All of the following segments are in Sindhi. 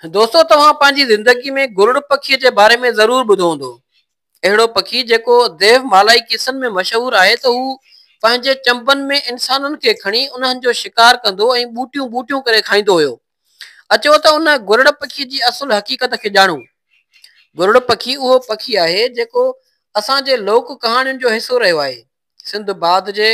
دوستو توهان پنهنجي زندگي ۾ گرڙ پکي جي باري ۾ ضرور ٻڌو هوندو. اهڙو پکي جيڪو ديو مالائي قصن ۾ مشهور آهي ته هو پنهنجي چنبن ۾ انسانن کي کڻي انهن جو شڪار ڪندو ۽ ٻوٽيون ٻوٽيون ڪري کائيندو هيو. اچو ته ان گرڙ پکي جي اصل حقيقت کي ڄاڻون. گرڙ پکي اهو پکي آهي جيڪو اسان جي لوڪ ڪهاڻين جو حصو رهيو آهي. سنڌ باد جي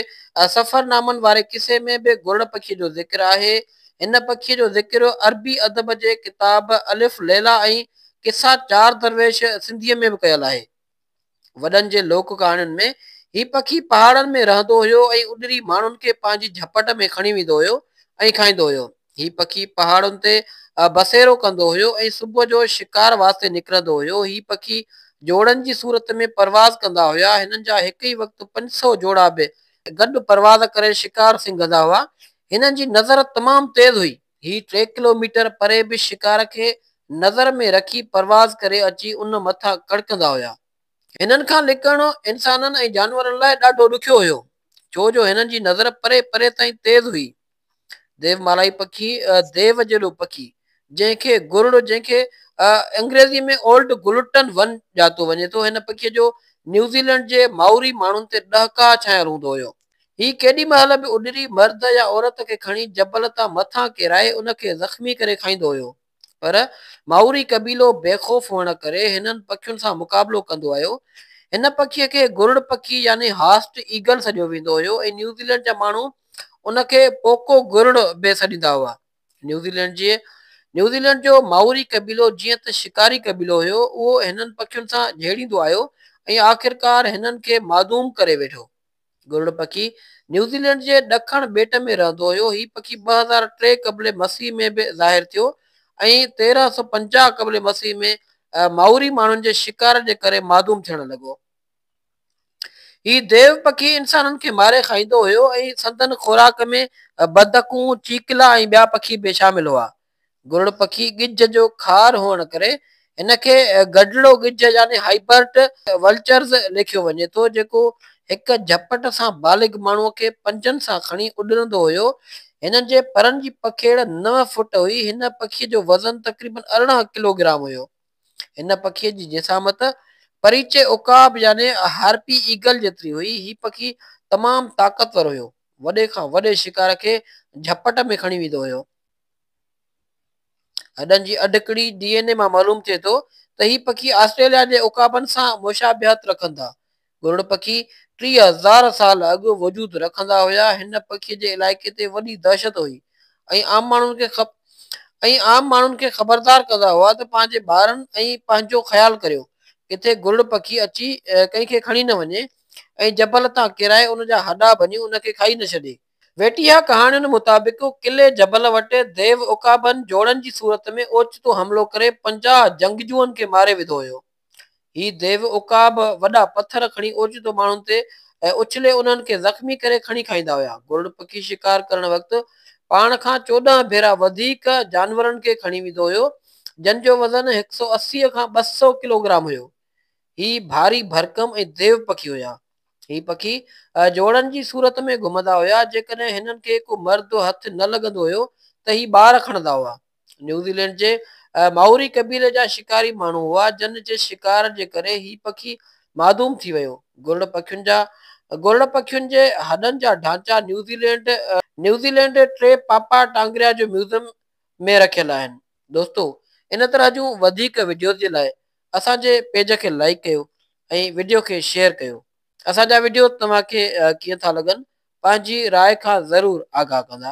سفرنامن واري قصي ۾ به گرڙ پکي جو ذڪر آهي. هن پکي جو ذڪر عربي ادب جي ڪتاب الف ليليٰ ۽ قصا چار درويش سنڌيء ۾ به ڪيل آهي. وڏن جي لوڪ ڪهاڻين ۾ هي پکي پهاڙن ۾ رهندو هيو ۽ اڏري ماڻهن کي پنهنجي جهپٽ ۾ کڻي ويندو هيو ۽ کائيندو هيو. هي پکي پهاڙن تي بسيرو ڪندو هيو ۽ صبح جو شڪار واسطي نڪرندو هيو. هي پکي جوڙن جي صورت ۾ پرواز ڪندا هيا. هنن جا هڪ ئي وقت پنج سؤ جوڙا به گڏ پرواز ڪري شڪار سنگهندا هئا. هنن جي نظر تمام تيز هئي. هي ٽي ڪلو ميٽر پري به شڪار کي نظر ۾ رکي پرواز ڪري اچي ان مٿان ڪڙڪندا هيا. هنن کان لڪڻ انسانن ۽ جانورن لاء ڏاڍو ڏکيو هيو ڇو جو هنن جي نظر پري پري تائين تيز هئي. ديو مالائي پکي، ديو جيڏو پکي، جنهن کي گرڙ جنهن کي انگريزي ۾ Old Gulton ون ڄاتو وڃي ٿو، هن پکي جو نيوزيلينڊ جي مائوري ماڻهن تي ڏهڪاء ڇانيل هوندو هيو. هي ڪيڏي مهل به اڏري مرد يا عورت کي کڻي جبل تان مٿان ڪيرائي ان کي زخمي ڪري کائيندو هيو. پر مائوري قبيلو بي خوف هئڻ ڪري هنن پکين سان مقابلو ڪندو آيو. هن پکي کي گرڙ پکي يعني هاسٽ ايگل سڏيو ويندو هيو ۽ نيوزيلينڊ جا ماڻهو ان کي پوڪو گرڙ به سڏيندا هئا. نيوزيلينڊ جي نيوزيلينڊ جو مائوري قبيلو جيئن ته شڪاري قبيلو هيو اهو هنن پکين سان جهيڙيندو آيو ۽ آخرڪار هنن کي معدوم ڪري ويٺو. گرڙ پکي نيوزيلينڊ جي ڏکڻ ٻيٽ ۾ رهندو هيو. هي پکي ٻه هزار ٽي قبل مسيح ۾ به ظاهر ٿيو ۽ تيرهن سؤ پنجاهه قبل مسيح ۾ مائوري ماڻهن جي شڪار جي ڪري معدوم ٿيڻ لڳو. هي ديو پکي انسانن کي ماري کائيندو هيو ۽ سندن خوراڪ ۾ بدڪون، چيڪلا ۽ ٻيا پکي به شامل هئا. گرڙ پکي ڳجهه جو خار هئڻ ڪري هن کي گرڙڙو ڳجهه يعني هائبرڊ ولچرز ليکيو وڃي ٿو، جيڪو هڪ جهپٽ سان بالغ ماڻهوء کي پنجن سان کڻي اڏرندو هيو. هنن جي پرن جي پکيڙ نو فوٽ هئي. هن پکيء جو وزن تقريبن ارڙهن ڪلو گرام هيو. هن پکيء جي جسامت پريچي عقاب يعني هارپي ايگل جيتري هئي. هي پکي تمام طاقتور هيو. وڏي کان وڏي شڪار کي جهپٽ ۾ کڻي ويندو هيو. هڏن جي اڍڪڙي ڊي اين اي مان معلوم ٿئي ٿو ته هي پکي آسٽريليا جي عقابن سان مشابهت رکن ٿا. گرڙ پکي ٽيهه هزار سال اڳ وجود رکندا هيا. هن پکي جي علائقي تي وڏي دهشت هئي ۽ عام ماڻهن کي ۽ عام ماڻهن کي خبردار ڪندا هئا ته پنهنجي ٻارن ۽ پنهنجو خيال ڪريو. ڪٿي گرڙ پکي اچي ڪنهن کي کڻي نه وڃي ۽ جبل تان ڪيرائي ان جا هڏا ڀڃي ان کي کائي نه ڇڏي. ويٽيها ڪهاڻين مطابق قلعي جبل وٽ ديو عقابن جوڙن جي صورت ۾ اوچتو حملو ڪري پنجاهه جنگجوئن کي ماري وڌو هيو. هي ديو عقاب وڏا پٿر کڻي اوچتو ماڻهن تي ۽ اڇلي انهن کي زخمي ڪري کڻي کائيندا هيا. گرڙ پکي شڪار ڪرڻ وقت پاڻ کان چوڏهن ڀيرا وڌيڪ جانورن کي کڻي ويندو هيو جن جو وزن هڪ سؤ اسي کان ٻه سؤ ڪلوگرام هيو. هي ڀاري ڀرڪم ۽ ديو پکي هيا. هي پکي جوڙن جي صورت ۾ گهمندا هيا، جيڪڏهن هنن کي ڪو مرد هٿ نه لڳندو هيو ته هي ٻار کڻندا هئا. نيوزيلينڊ جي مائوري قبيلي جا شڪاري ماڻهو هئا، جن جي شڪار جي ڪري هي پکي معدوم ٿي ويو. گرڙ پکين جا گرڙ پکين جي هڏن جا ڍانچا New Zealand. New Zealand Te Papa Tongarewa جو ميوزيم ۾ رکيل آهن. دوستو ان طرح جون وڌيڪ وڊيوز جي لاء اسان جي پيج کي لائيڪ ڪيو ۽ وڊيو کي شيئر ڪيو اسان جا وڊيو توهان کي ڪيئن ٿا لڳن پنهنجي راء کان ضرور آگاهه ڪندا.